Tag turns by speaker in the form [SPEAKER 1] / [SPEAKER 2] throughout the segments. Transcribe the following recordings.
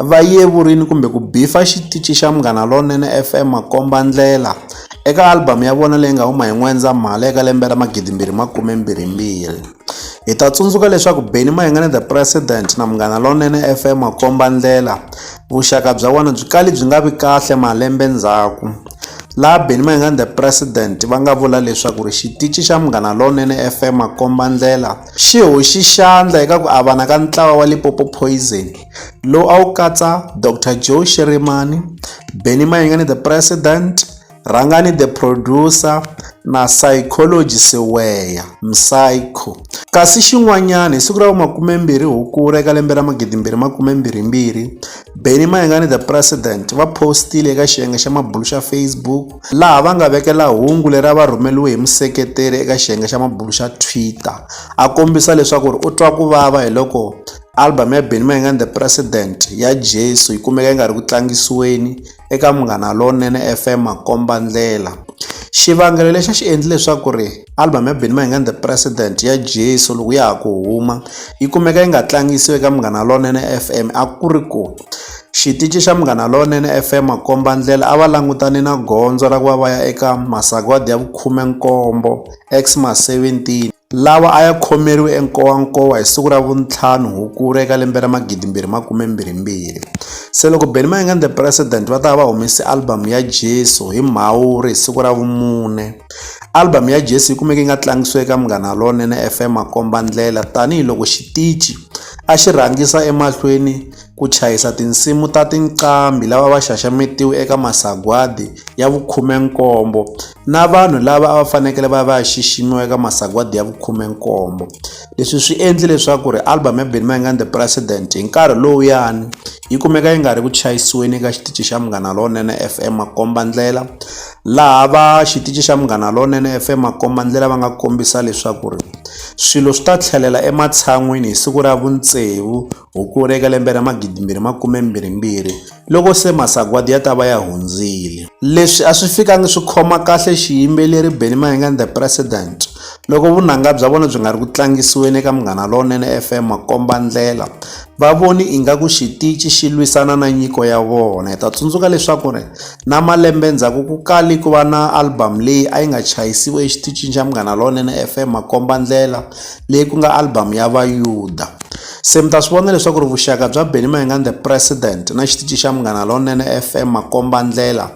[SPEAKER 1] va yevurile kumbe ku beef-a xitichi xa Munghana Lonene F_M makombandlela eka album ya vona leyi nga huma hi N'wendzamhala eka lembe ra magidi mbirhi makume mbirhi mbirhi hi ta tsundzuka leswaku Benny Mayengani the president na Munghana Lonene F_M makombandlela vuxaka bya vona byi kale byi nga vi kahle malembe ndzhaku laha Benny Mayengani the president va nga vula leswaku ri xitichi xa Munghana Lonene F_M makombandlela xi hoxi xandla eka ku avana ka ntlawa wa Limpopo Poison lowu a wu katsa Doctor Joe Shirimani, Benny Mayengani the President, Rhangani the Producer na Psychology Siweya, Psycho. Kasi xin'wanyana hi siku ra vu-20 Hukuri eka lembe ra 2022, Benny Mayengani the President va postile eka xiyenge xa mabulu xa Facebook, laha va nga vekela hungu leri a va rhumeliwe hi museketeri eka xiyenge xa mabulo xa Twitter a kombisa leswaku ri u twa ku vava hi loko album ya Benny Mayengani The President ya Jesu yi kumeka yi nga ri ku tlangisiweni eka Munghana Lonene FM makomba ndlela xivangelo lexi a xi endli leswaku ri Album ya Benny Mayengani The President ya Jesu loko ya ha ku huma yi kumeka yi nga tlangisiwi eka Munghana Lonene FM a ku ri ku xitici xa Munghana Lonene FM makomba ndlela a va langutane na gondzo ra ku va va ya eka masagwadi ya vukhume nkombo Xmas 17 lawa a ya khomeriwe enkowankowa hi siku ra vuntlhanu hukuri eka lembe ra magidimbirhi makume mbirhimbirhi se loko Benny Mayengani The President va ta va va humese album ya Jesu hi Mhawuri hi siku ra vumune Album ya Jesu yi kumeke yi nga tlangisiwi eka Munghana Lonene FM makombandlela tanihiloko xitichi a xi rhangisa emahlweni ku chayisa tinsimu ta tinqambi lava va xaxametiwe eka masagwadi ya vukhumenkombo na vanhu lava a va fanekele va va ya xiximiwa eka masagwadi ya vukhumenkombo leswi swi endle leswaku ri album ya Benny Mayengani The President hi nkarhi lowuyani yi kumeka yi nga ri ku chayisiweni eka xitichi xa Munghana Lonene FM makombandlela Laha va xitichi xa Munghana Lonene FM makombandlela va nga kombisa leswaku ri swilo swi ta tlhelela ematshan'wini hi siku ra vutsevu Hukuri eka lembe ra magidi mbirhi makume mbirhi mbirhi loko se masagwadi ya ta va ya hundzile. Leswi a swi fikangi swi khoma kahle xiyimbeleri Benny Mahinga and the President loko vunanga bya vona byi nga ri ku tlangisiweni eka Munghana Lonene FM makombandlela. Va voni ingaku xitici xi lwisana na nyiko ya vona. Hi ta tsundzuka leswaku ri na malembe ndzhaku ku kali ku va na album leyi a yi nga chayisiwe exiticini xa Munghana Lonene F_M Makombandlela leyi ku nga album ya Vayuda. Se mi ta swi vona leswaku ri vuxaka bya Benny Mayengani the president na xitici xa Munghana Lonene F_M Makombandlela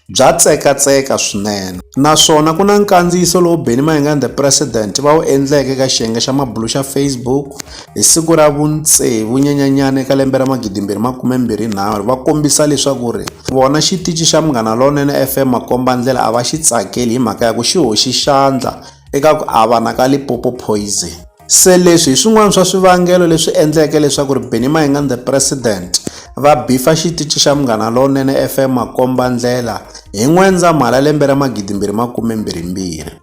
[SPEAKER 1] bya tsekatseka swinene naswona ku na nkandziyiso lowu Benny Mayengani the president va wu endleke ka xiyenge xa mabulo xa Facebook. Hi siku ra vu tsevu Nyenyenyani eka lembe ra 2023, va kombisa leswaku ri vona xitichi xa Munghana Lonene FM makombandlela a va xi tsakeli hi mhaka ya ku xi hoxi xandla eka ku avana ka Limpopo Poison. Se leswi hi swin'wana swa swivangelo leswi endleke leswaku ri Benny Mayengani The President va bifa xitichi xa Munghana Lonene FM makombandlela hi N'wendzamhala lembe ra 2022.